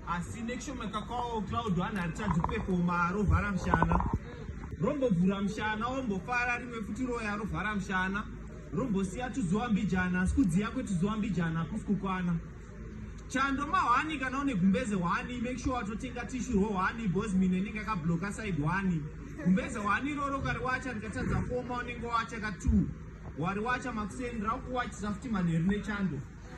asi make sure makakwawo cloud one haritadzi kupefoma rovhara mushana rombovhura mushana wombofara rimwe futi roya rovhara mushana rombosiya tuzuva mbijana asi kudziya kwetuzuva mbijana hakusi kukwana chando mahwani kana une gumbeze hwani make sure watotenga tishu rohwani bosmin enenge akabloka side hwani gumbeze hwani iroro kari wacha ndikatadza foma unenge wacha ka two wari wacha makuseni rakuwachisa futi manheru nechando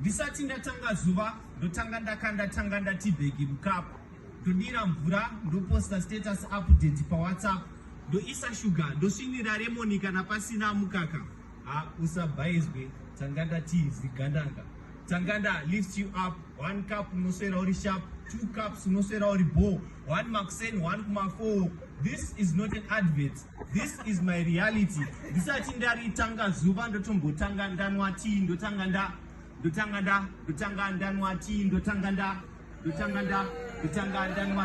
Ndisati ndatanga zuva ndotanga ndakanda tanga ndati bhegi mukapu ndodira mvura ndoposta status update pawhatsapp ndoisa shuga ndosvinira remoni kana pasina mukaka ha usabhaizwe tanga ndati zigandanga tanga nda lift you up one cup unoswera uri sharp two cups unoswera uri bho one makuseni one kumafoo this is not an advert This is my reality. Ndisati ndaritanga zuva ndotombotanga ndanwa tea ndotanga nda ndotanga nda ndotanga ndanwa tea ndotanga nda ndotanga nda ndotanga ndanwa